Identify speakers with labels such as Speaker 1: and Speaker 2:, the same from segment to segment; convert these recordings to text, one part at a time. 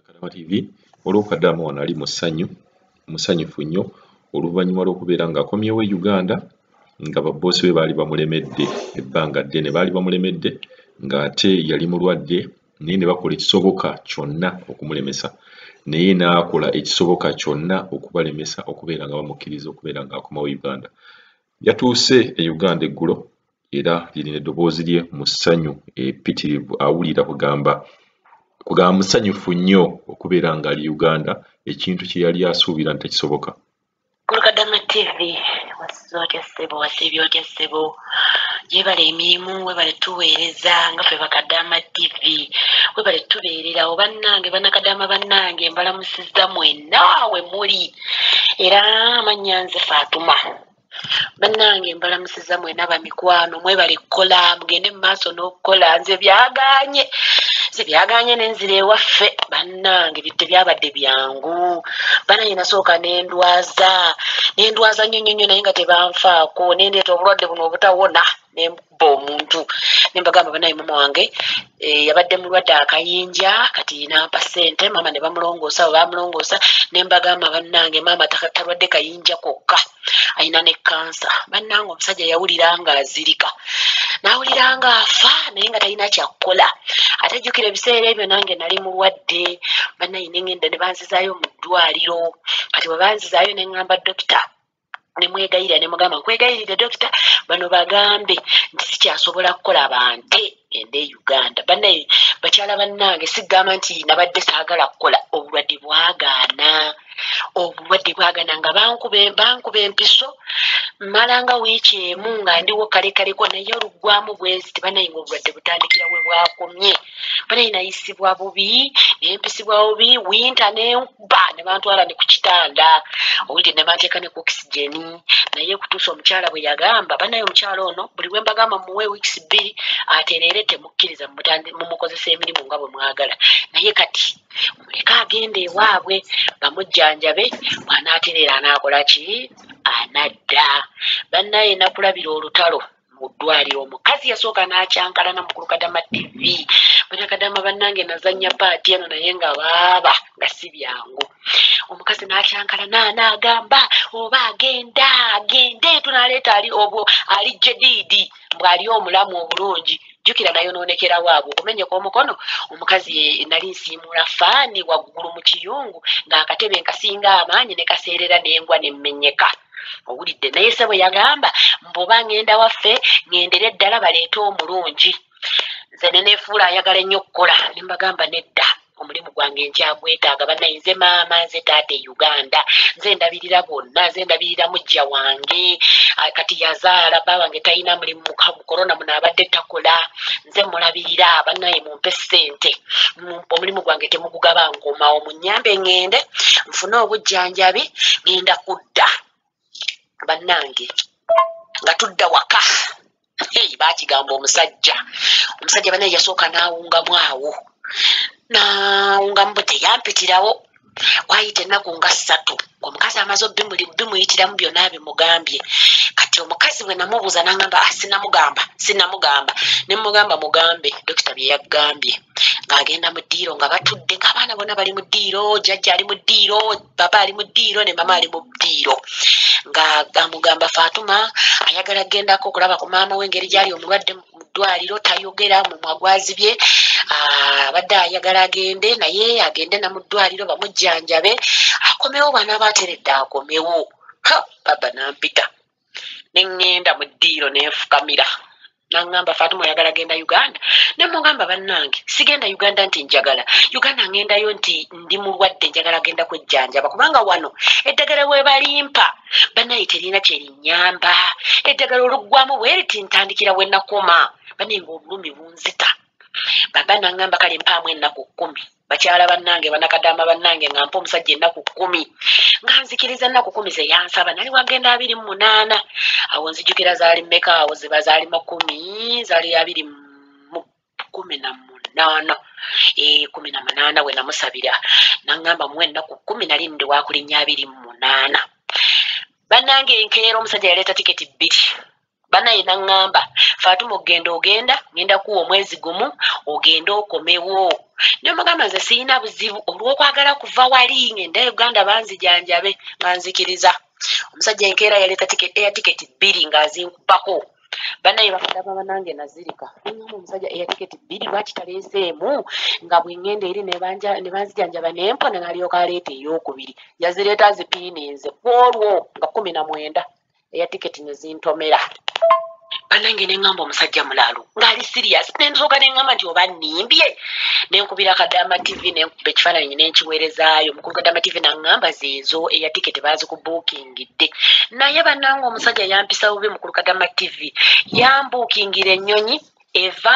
Speaker 1: Kadama TV olw'okadama wano ali musanyu musanyufu nnyo oluvannyuma lw'okubeera ng'akomyewo e Uganda nga babboosi be baali bamulemedde ebbanga ddene baali bamulemedde ng'ate yali mulwadde naye ne bakola ekisoboka kyonna okumulemesa naye n'akola ekisoboka kyonna okubalemesa okubeera nga bamukkiriza okubeera ng'akomawo Uganda Yatuuse e Uganda eggulo era lirina eddoboozi lye mu ssanyu epitirivu awulira kugamba kugamba musanyufu nnyo okubeera ng'ali Uganda ekintu kye yali asuubira nti tekisoboka. Kulukadama
Speaker 2: TV wasize otya ssebo wasiibye otya ssebo yebale emirimu webale tuweereza nga ffe bakadaama TV webale tubeererawo bannange banakadaama bannange mbalamusiza mwenna we muli. era amannya nze faatuma bannange mbalamusiza mwena bamikwano mwebale kukola mugende mu maaso n'okukola nze byaganye nze byaganye nenzira ewaffe bannange tebyabadde byangu banange nasooka nendwaza nendwaza nnyo nnyo nnyo naye nga tebanfaako nendeeta obulwadde buno obutawona okubba omuntu nembagamba banaye mama wange eh, yabadde mulwadde akayinja kati nampa sente maama ne bamulongoosa we bamulongoosa nembagamba bannange maama talwadde kayinja kokka alina ne kansa bannange omusajja yawulira nga azirika nawulira nga afa naye nga talina kyakukola ate jjukira ebiseera ebyo nange nali mulwadde banaye nengenda ne banzizaayo mu ddwaliro kati bwe banzizaayo ne ŋŋamba dokita nemwegayirira nemugamba nkwegayirire dokita bano bagambe nti sikyasobola kukola bante ende e uganda banaye bakyala bannange sigamba nti nabadde saagala kukola obulwadde bwagaana obulwadde bwagana nga bankuba empiso malanga wiiki emu nga ndiwo kalekaleko naye oluggwamu bwenzi tibanaye nga obulwadde butandikira we bwakomye banaye nayisibwa bubi nempisibwa bubi winta ne nebamukubba nebantwala ne ku kitanda owulidde nebanteeka ne ku oxygen naye kutuusa omukyala bwe yagamba banaye omukyala ono buli bwe mbagamba muwe weeks bbiri atereere temukkiriza mumukozesa emirimu nga bwe mwagala naye kati muleke agenda ewaabwe bamujjanjabe bwanaatereera anaakola ki anadda bannaye nakulabira olutalo mu ddwaliro omukazi yasooka n'akyankalana mu kulukadama tv banakadama bannange nazannya paati eno naye nga baaba nga si byangu omukazi n'akyankalana naagamba oba agenda agende tunaleeta ali obwo ali jediidi mbw'ali omulamu obulungi jukira nayonoonekera waabwe okumenyeka omukono omukazi nali nsiimuula faani waggulu mu kiyungu ng'akatebe nkasinga amaanyi ne kaseerera n'engwa ne mmenyeka owulidde naye sebo yagamba mbuba ng'enda waffe ng'endere ddala baleete omulungi nze ne neefuula ayagala ennyo okukola ne mbagamba nedda omulimu gwange nkyagwetaaga banaye nze maama nze taata e uganda nze ndabirira bonna nze ndabirira mujja wange kati yazaala bba wange talina mulimu mukorona muno abadde takola nze mulabirira banaye mumpe ssente omulimu gwange temugugaba nkomawo munyambe ŋŋende nfune obujjanjabi ŋenda kudda bannange nga tudda waka hey, bakigamba omusajja omusajja banaye yasooka n'awungamu awo n'awungamu bwe teyampitirawo wayita ennaku nga ssatu omukazi amaze obimuyitiramu byonna bimugambye kati omukazi bwe namubuuza nangamba ah, sinamugamba sinamugamba ne mugamba mugambe dokita bye yaggambye ng'agenda mu ddiiro nga batudde ng'abaana bona bali mu ddiiro jajja ali mu ddiiro baba ali mu ddiiro ne mama ali mu ddiiro nga amugamba fatuma ayagala gendako okulaba ku maama we engeri gyali omulwadde mu ddwaliro tayogera mumwa gwazibye ah, abadde ayagala agende naye agende na mu ddwaliro bamujjanjabe akomewo bwanaaba ateredde akomewo ha baba nampita ne ŋŋenda mu ddiiro ne nfukamira naŋŋamba faatuma oyagala genda uganda ne mugamba bannange sigenda uganda nti njagala uganda ŋŋendayo nti ndi mulwadde njagala genda kwejjanjaba kubanga wano eddagala we balimpa bannaye terina kye linnyamba eddagala oluggwamu bwe riti ntandikira we nakoma bane ng'obulumi bunzita baba naŋŋamba kale mpaamu ennaku kkumi bakyala bannange banakadaama bannange nga mpa omusajja ennaku kkumi nga nzikiriza ennaku kumi ze yansaba nali wagenda abiri mu munaana awo nzijukira zaali mmeka awo ziba zaali makumi zaali abiri mu kumi na munaana eh, kumi na munaana we namusabira naŋŋamba mu ennaku kkumi nali ndi wakulinnya abiri mu munaana bannange enkeera omusajja yaleeta tiketi bbiri banaye naŋŋamba faatuma okugenda ogenda ngenda kuwa omwezi gumu ogende okomewo nemugamba nze sirina buzibu olwokwagala kuva wali ngenda uganda banzijanjabe nga nzikiriza omusajja enkeera yaleeta air tiketi bbiri ng'azinkubako banaye bakadama banange nazirika nnyamba omusajja air tiketi bbiri lwaki taleeseemu nga bwengenda eri nebanzijanjaba nempona nalyoka aleeta eyokubiri yazireeta zipiininze kwolwo nga kumi na mwenda eya tiketi ne zintomera banange ne ŋŋamba omusajja mulaalu ng'ali siriyasi ne nsooka ne ŋŋamba nti oba nnimbye ne nkubira kadaama tivi ne nkuba ekifaananyi ne nkiweerezaayo mukulu kadaama tivi naŋŋamba zeezo eya tiketi baazikubuukingidde naye banange omusajja yampisa bubi mukulu kadaama tivi yambuukingira ennyonyi eva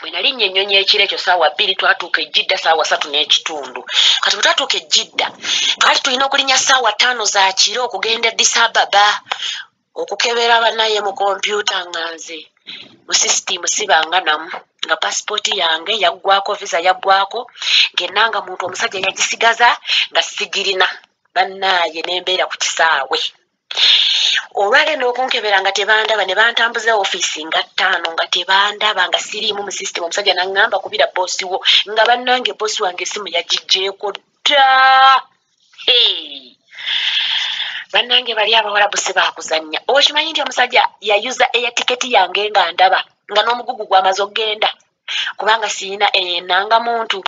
Speaker 2: bwe nalinnya ennyonyi ekiro ekyo saawa bbiri twatuuka ejjidda saawa satu n'ekitundu kati bwe twatuuka ejjidda twali tulina okulinnya saawa ttaano za kiro okugenda edisababa okukebera banaye mu kompyuta nga nze mu musisitiimu sibanga namu nga pasipooti yange yaggwako visa yaggwako ngenna nga muntu omusajja yagisigaza nga sigirina bannaaye nembeera ku kisaawe olwagenda okunkebera nga tebandaba ne bantambuza ofiisi nga ttaano nga tebandaba nga siriimu mu sisitemu omusajja naŋŋamba kubira boosi wo nga bannange boosi wange esimu yagigyeko dda bannange bali abawala busi baakuzannya okimanyi nti omusajja yayuza eya tiketi yange nga ndaba nga n'omugugu gwamaze okugenda kubanga siyina eyo eh, enangamuntu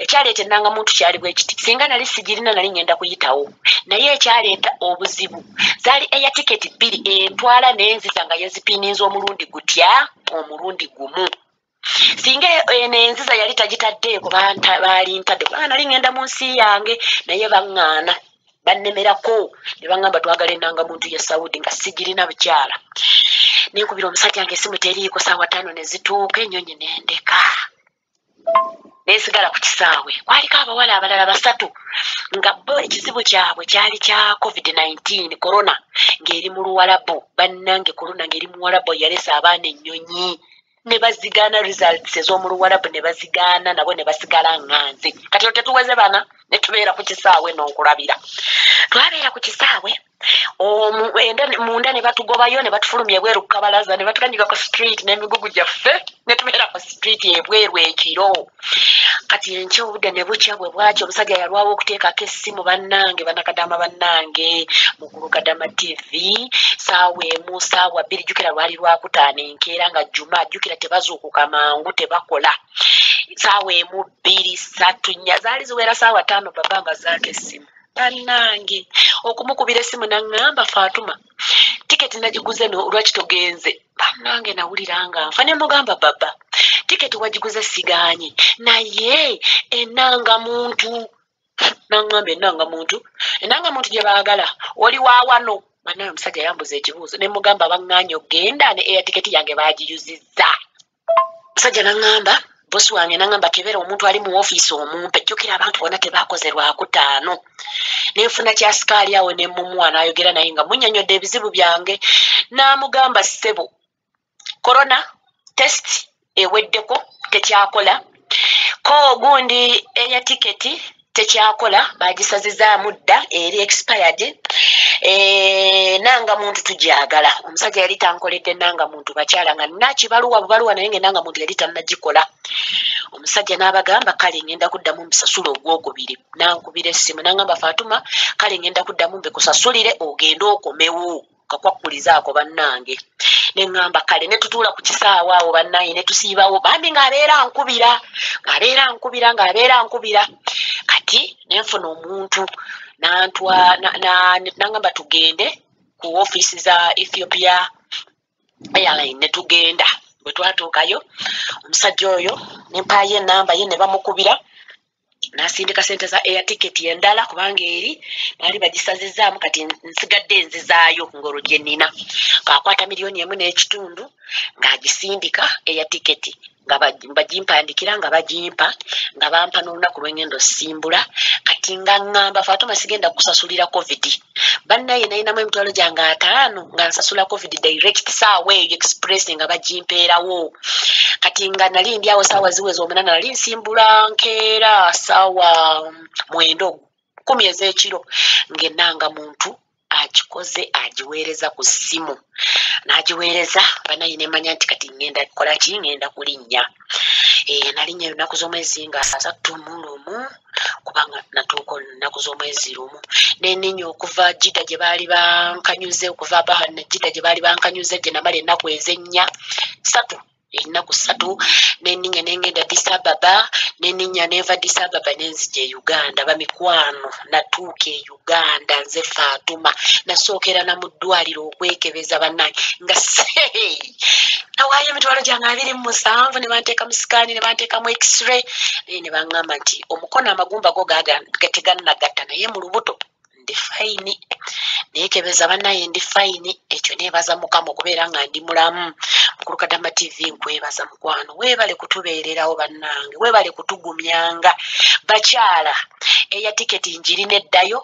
Speaker 2: ekyaleeta enangamuntu kyali bwekiti singa nali sigirina nali ngenda kuyitawo naye ekyaleeta obuzibu zaali eya tiketi bbiri entwala nenziza nga yezipininza omulundi gutya omulundi gumu singa eno enziza yali tagitaddeeko baalintadde kubanga nali ngenda mu nsi yange naye baŋŋaana bannemerako ne baŋŋamba twagala ennanga muntu ye saudi nga sigirina bukyala nenkubira omusajja nga esimu teriiko saawa ttaano ne zituuka ennyonyi ne ndeka nensigala ku kisaawe kwaliko abawala abalala basatu nga bo ekizibu kyabwe kyali kya covid-19 corona ng'eri mu luwalabu bannange corona ng'eri muwalabu yalesa abaana ennyonyi ne bazigaana results ez'omu luwalabu ne bazigaana nabo ne basigala nganze kati olwo tetuweze bana ne tubeera ku kisaawe n'okulabira twabeera ku kisaawe munda ne batugobayo ne batufulumya ebweru ku kabalaza ne batuganyika ku street n'emigugu gyaffe ne tubeera ku street ebweru ekiro kati enkya obudde ne bukya bwe bwaki omusajja yalwawo okuteekako essimu bannange banakadama bannange mukulu kadama tv saawa emu saawa bbiri jjukira lwali lwakutaano enkeera nga juma jjukira tebazuukuka mangu tebakola saawa emu bbiri satu nnya zaali ziwera saawa taano baba mbazaako essimu bannange okumukubira essimu naŋŋamba faatuma tiketi nagiguze no lwaki togenze banange nawulira nga nfa ne mugamba baba tiketi wagiguze siganyi naye enanga muntu nangamba enanga muntu enanga muntu gye baagala oli wawano banaye omusajja yambuza ekibuuzo ne mugamba banganye okugenda ne eya tiketi yange bagiyuzizza musajja naŋŋamba bosi wange naŋŋamba tebeera omuntu ali mu ofiisi omumpe jjukira abantu bona tebaakoze lwakutaano ne nfuna kyasikaali awo ne mumuwa n'ayogera naye nga munyonyodde ebizibu byange n'amugamba ssebo korona test eweddeko tekyakola ko ogundi eya tiketi tekyakola bagisazizaamu dda eri expired eh, nanga muntu tugyagala omusajja yali tankoledde nanga muntu bakyala nga nakibaluwa bubaluwa naye nga enanga muntu yali tanagikola omusajja n'abagamba kale ngenda kuddamu mbisasula ogwokubiri nankubira essimu nangamba fatuma kale ngenda kuddamu mbikusasulire ogende okomewo kakwakkuliza ako bannange ne ŋŋamba kale ne tutuula ku kisaawa awo bannange ne tusiibawo bambi ng'abeera nkubira ng'abeera nkubira ng'abeera nkubira kati ne nfuna omuntu nantwa nangamba tugende ku ofiisi za ethiopia airline ne tugenda bwe twatuukayo omusajja oyo ne mpaayo enamba ye ne bamukubira nasindika sente za air ticket endala kubanga eri baali bagisazizaamu kati nsigadde enzizaayo ngolo gye nina kakwata miliyoni emu n'ekitundu ng'agisindika air ticket nga bagimpandikira nga bagimpa nga bampa n'olunaku lwengenda osimbula kati nga ŋŋamba fatuma sigenda kusasulira covid bannaye nalinamu emitwalo gyange ataano nga nsasula covid direct saawa eyo express nga bagimpeerawo kati nga nali ndi awo saawa ziweza omunana nali nsimbula nkeera saawa mwendo kumi ez'ekiro ng'enanga muntu agikoze agiweereza ku ssimu n'agiweereza banaye nemanya nti kati ŋŋenda kukola ki ŋŋenda kulinnya eh, nalinnya olunaku z'omwezi nga asattu mu lumu kubanga natuuka olunaku z'omwezi lumu nenenya okuva jida gye baali bankanyuze okuva abahana jida gye baali bankanyuze gye namala ennaku ezennya satu ennaku ssatu neninya nengenda disababa neninya neva disababa nenzija e uganda bamikwano natuuka eyo uganda nze fatuma nasookera na mu ddwaliro okwekebeza banange nga nawaayo emitwalo gyange abiri mu musanvu ne banteeka mu sikaani ne banteekamu x-ray naye ne baŋŋamba nti omukono amagumba go teganagatta naye mu lubuto ndi fayini nekebeza banaye ndi fayini ekyo nebaza mukama okubeera nga ndi mulamu mukulukadama tv nkwebaza mukwano webale kutubeererawo bannange webale kutugumyanga bakyala eya tiketi njiri neddayo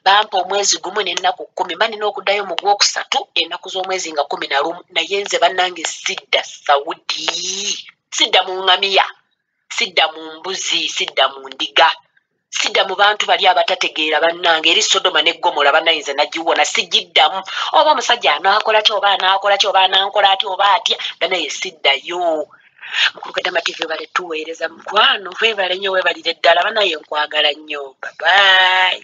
Speaker 2: bampa omwezi gumu nenaku kumi mba nina okuddayo mu gwokusatu enaku z'omwezi nga kumi na lumu naye nze bannange sidda saudi sidda mu ngamiya sidda mu mbuzi sidda mu ndiga sida mu bantu bali abatategeera bannange eri sodoma ne gomola banayinza nagiwona sigiddamu oba omusajja anaakola ki oba anaakola ki oba anankola atya oba atya banaye siddayo mukulu kadama tv webale tuweereza mukwano webale nnyo webalire ddala banaye nkwagala nnyo babayi